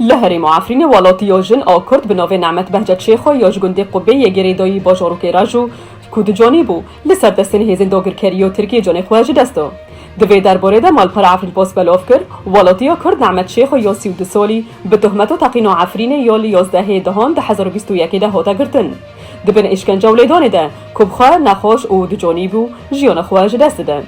Li herêma Efrînê welatî ya jin a Kurd bi navê Nemet Behcet Şêxo ya ji gundê Qubê yê Girêdayî bajarokê Rejo ku di canê bû, li ser destên hêzên dagirkerî ya Tirkiyê canê xwe ji dest da. Di vê derbarê de malpera Efrînpost belav kir, Welatîya Kurd Nemet Şêxo ya sî û du salî bi tohmeta teqîna Efrînê ya li yazdehê dehan di hezar û bîst û yekê de hate girtin di bin îşkence û lêdanê de ku bi xwe nexweş û di canî bû jiyana xwe ji dest dide.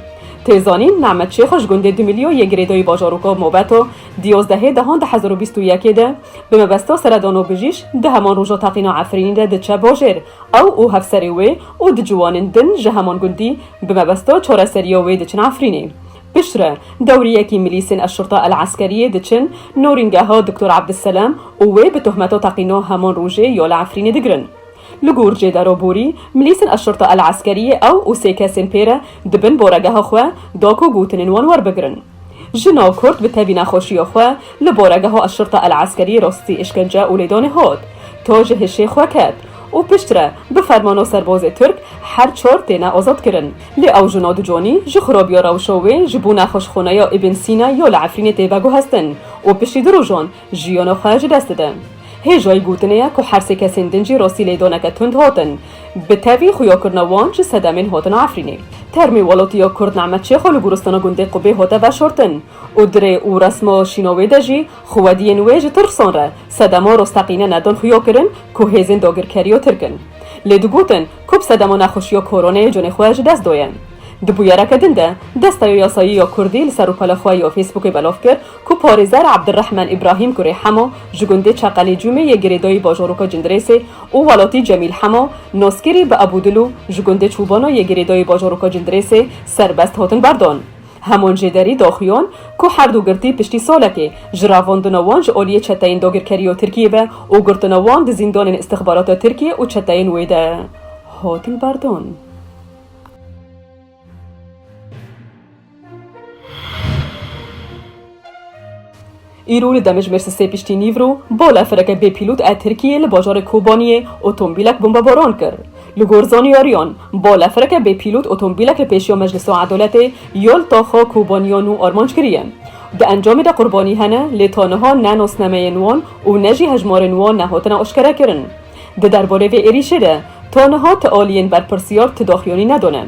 Tê zanîn Nemet Şêxo ji gundê Dimilyo yê Girêdayî bajaroka Mobeta Di yozdehê dehan du hezar û bîst û yekê de bi mebesta seredan û bijîş di heman roja teqîna Efrînî de diçe bajêr. Ew û hevserê wê û du ciwanên din ji heman gundî bi mebesta çareseriya wê diçin Efrînê. Piştre dewriyekî milîsên Eşşurta El'eskeriyê diçin norîngeha Doktor Abdusselam û wê bi tohmeta teqîna heman rojê ya li Efrînê digirin. Li gor Cêdero Borî, milîsên Eşşurta El'eskeriyê ew û sê kesên pê re di bin baregeha xwe da ku gotinên wan werbigirin. Jina kurd bi tevî nexweşiya xwe li boregeha Eşirta El Eskerî rastî îşkence û lêdanê hat. Ta ji hişê xwe ket û piştre bi fermana serbazê Tirk her çar têne azad kirin. Lê ew jina di canî ji xirabiya rewşa wê ji bo nexweşxaneya Îbn Sîna ya li Efrînê tê veguhestin û piştî du rojan Jiyono xwe ji dest didin. Hêjoyî gotinê ye ku her sê kesên din jî rastî lêdaneke tund hatin. Bi tevî xuyakirina wan ji sedemên hatina Efrînê. Termê welatî ya Kurd Nehmet Çêxo li goristana gundê Qubê hate veşartin û di rê û resma şîna wê de jî xwediyên wê ji tirsan re sedema rasteqîne nedan xuyakirin ku hêzên dagirkerî ya Tirk in. Lê digotin ku bi sedema nexweşiya koroneyê canê xwe ji dest daye. Di bûyereke din de Desteya Yasayî ya Kurdî li serrûpela xwe ya Fêsbûkê belav kir, Ku parêzer Abdirehman Îbrahîm kurê Hemo ji gundê Çeqelê Cûmê yê girêdayî bajaroka Cindirêsê û welatî Cemîl Hemo, naskirî bi Ebû Dil û ji gundê Çûbana yê girêdayî bajaroka Cindirêsê serbest hatin berdan. Hemon jê derî daxuyan ku herdu girtî piştî salekê ji revandina wan ji aliyê çeteyên dagirkerî ya Tirkiyê be û girtina wan di zîndanên îstixbarata Tirkiyê û çeteyên wê de hatin berdan. Îro li Demijmêr sisê piştî nîvro bala fireke bêpîlot a Tirkiyê li bajarê Kobaniyê otomobîlek bombebaran kir. Li gor zanyariyan, bala fireke bêpîlot otomobîlek li pêşiya Meclisa Edaletê ya li taxa Kobaniya nû armanc kiriye. Di encamê de qurbanî hene lê ta niha ne nasnameyên wan û ne jî hejmarên wan nehatine eşkerekirin. Di derborê vê êrîşê de ta niha ti aliyên berpirsiyar ti daxuyanî nedane.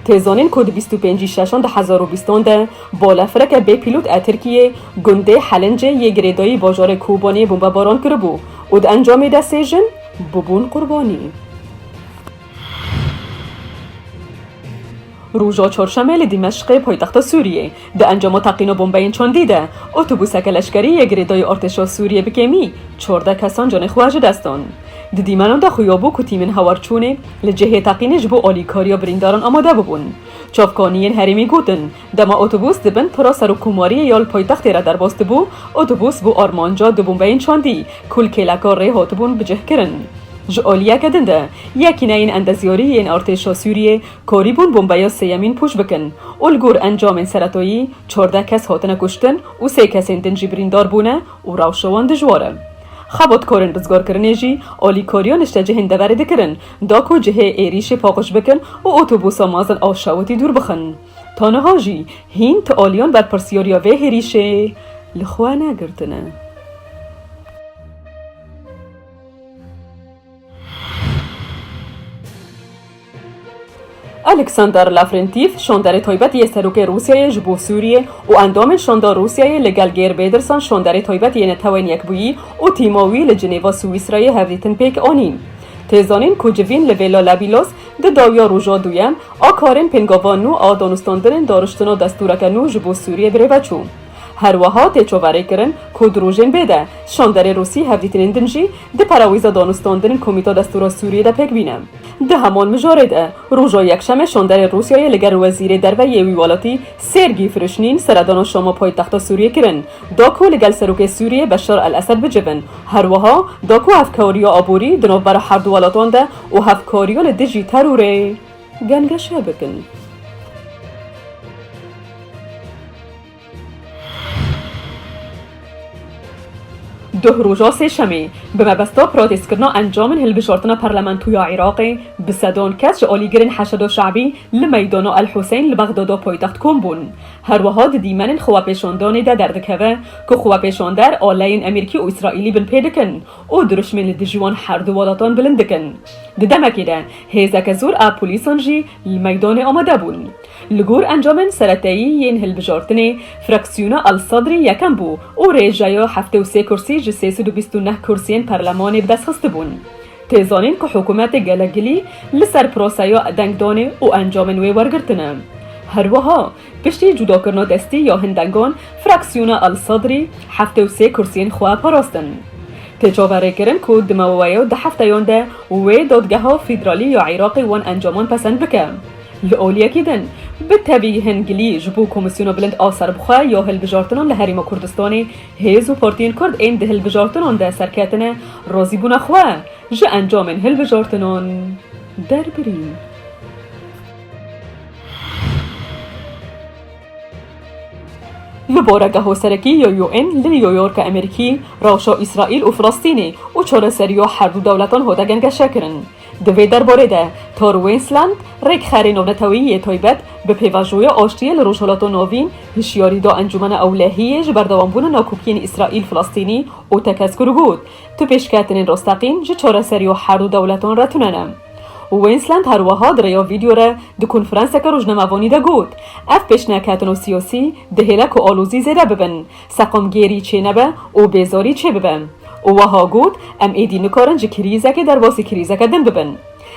Tê zanîn ku di bîst û pêncî şeşan di hezar û bîstan de balefireke bêpîlot a Tirkiyê gundê Helincê yê girêdayî bajarê Kobaniyê bombebaran kiribû û di encamê de sê jin bûbûn qurbanî. Roja Çarşemê li Dîmeşqê paytexta Sûriyê di encama teqîna bombeyên çandî de otobuseke leşkerî yê girêdayî artêşa Sûriyê bi kêmî çardeh kesan canê xwe ji dest dan. Di dîmenan de xuyabû ku tîmên hewarçûnê li cihê teqînê ji bo alîkariya birîndaran amade bibûn. Çavkaniyên herêmî gotin, dema otobus di bin pira serokkomariyê ya li paytextê re derbas dibû, otobus bû armanca du bombeyên çandî ku li kêleka rê hatibûn bicihkirin. Ji aliyeke din de yekîneyên endezyarî yên artêşa Sûriyê Korîbûn bombeyê sêyemîn pûç bikin û li gor encamên seretoyî çardeh kes hatine kuştin û sê kesên din jî birîndar bûne û rewşa wan dijwar e. Xebatkarên rizgarkirinê jî alîkariya niştecihên deverê dikirin da ku cihê êrîşê paqij bikin û otobusa mezin a şewitî dûr bixin. Ta niha jî hîn ti aliyan berpirsyariya vê hêrîşê li xwe negirtine. Alexander Lavrentîv, şonderê taybet yê Serokê Rûsyayê ji bo Sûriyê û endamên Şonda Rûsyayê li gel Geir Bêdirsan şonderê taybet yê Netewên Yekbûyî û tîma wî li Cinêva Swîsrayê hevdîtin pêk anîn. Tê zanîn ku civîn li Vêla Labilos di dawiya roja duyem a karên pêngavan nû a danûstandinên dariştina destûreke nû ji bo Sûriyê bi rêve çû. Her wiha tê çaverêkirin ku di rojên bê de şonderê Rûsî hevdîtinên din jî Di pera wî ze danûstandin Komîta Destûra Sûriyê de pêk bîne. Di heman mijarê de roja Yekşemê şanderê Rûsyayê li gel wezîrê derve yê wî welatî Sêrgî Firişnîn seredana Şama paytexta Sûriyê kirin da ku li gel serokê Sûriyê Beşar El Esed bicivin her wiha da ku hevkariya aborî di navbera herdu welatan de û hevkariya li dijî terorê gengeşe bikin. Duh roja sêşemê, bi mebesta protestkirina encamên hilbijrtina parlamento ya Iraqê, bi sedan kes ji alîgirên Heşedo Şe'bî li meydana El Huseyîn li Bexdada paytext kom bûn. Her wiha di dîmenên xwepêşandanê de derdikeve ku xwepêşander aleyên Emîrkî û Îsraîlî bin pê dikin û dirûşmên li dijî wan her du welatan bilind dikin. Di demekê de hêzeke zor a polîsan jî li meydanê amade bûn. Li gor encamên sereteyî yên hilbijartinê, fraksiyona El Sedrî yekem bû û rêjeya heftê û sê kursî ji sê sed û bîst û neh kursiyên perlemanê bi dest xistibûn. Tê zanîn ku hikûmetê gelek gilî li ser proseya dengdanê û encamên wê wergirtin e. Her wiha, piştî cudakirina destî ya hin dengan, fraksiyona El Sedrî heftê û sê kursiyên xwe parastin. Tê çaverêkirin ku di maweya du hefteyan de wê Dadgeha Federalî ya Iraqê wan encaman pesend bike. Li aliyekî din, bi tevî hin gilî ji bo Komîsyona Bilind a Serbixwe ya Hilbijartinan li Herêma Kurdistanê, hêz û partiyên Kurd ên di hilbijartinan de serketine razîbûna xwe ji encamên hilbijartinan derbirî. Li baregeha serekî ya UN li New Yorka Amerîkî, rewşa Îsraîl û Filistînê û çareseriya herdû dewletan hate gengeşekirin. Di vê derbarê de Tor Wensland, rêkxerê navneteweyî yê taybet bi pêvajoya aştiyê li Rojhilata Navîn hişyarî da Encûmena Ewlehiyê ji berdewambûna nakokiyên Îsraîl-Filistînî û tekez-kir got, Tu pêşketinên rasteqîn ji çareseriya herdû dewletan re tune ne. Wensland her wiha di rêya vîdyo re di konferanseke rojnamevanî de got, Ev pêşneketina siyasî dihêle ku alozî zêde bibin. seqamgêrî çênebe û bêzarî çêbibe û wiha got, Em êdî nikarin ji krîzekê derbasî krîzeke din bibin.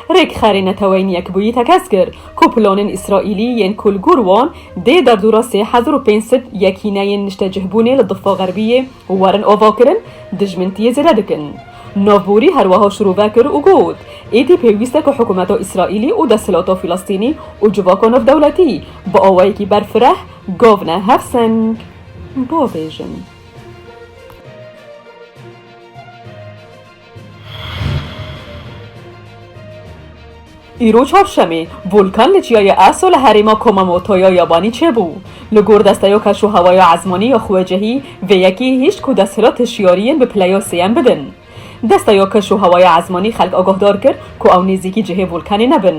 Rêkxerê Neteweyên Yekbûyî tekez kir ku planên Îsraîlî yên ku li gor wan dê derdora sê hezar û pênc sed yekîneyên niştecihbûnê li Difa Xerbiyê werin avakirin, dijmintiyê zêde dikin. Navborî her wiha şirove kir û got, Êdî pêwîst e ku hikûmeta Îsraîlî û desthilata Filistînî û civaka navdewletî bi awayekî berfireh gav ne hev seng. Bo bêjin. Îro çarşemê, Volkan li çiyayê Aso li herêma Komamotoya Yabanî çêbû. Li gor desteya keşûhewaya ezmanî ya xwecihî, vê yekê hişt ku desthilat hişyariyên bi pileya sêyem bidin. Desta ya Keşûhewaya Esmanî xelk agahdar kir ku ew nêzîkî cihê volkanê nebin.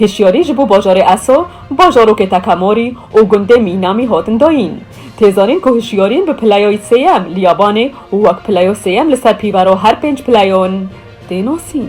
Hişyarî ji bo bajarê Eso, bajarokê Takamori û gundê Minami hatin dayîn. Tê zanîn ku hişyarîn bi pileyayî sêyem li Yabanê û wek pileya sêyem li ser pîvera her pênc pileyan tê nasîn.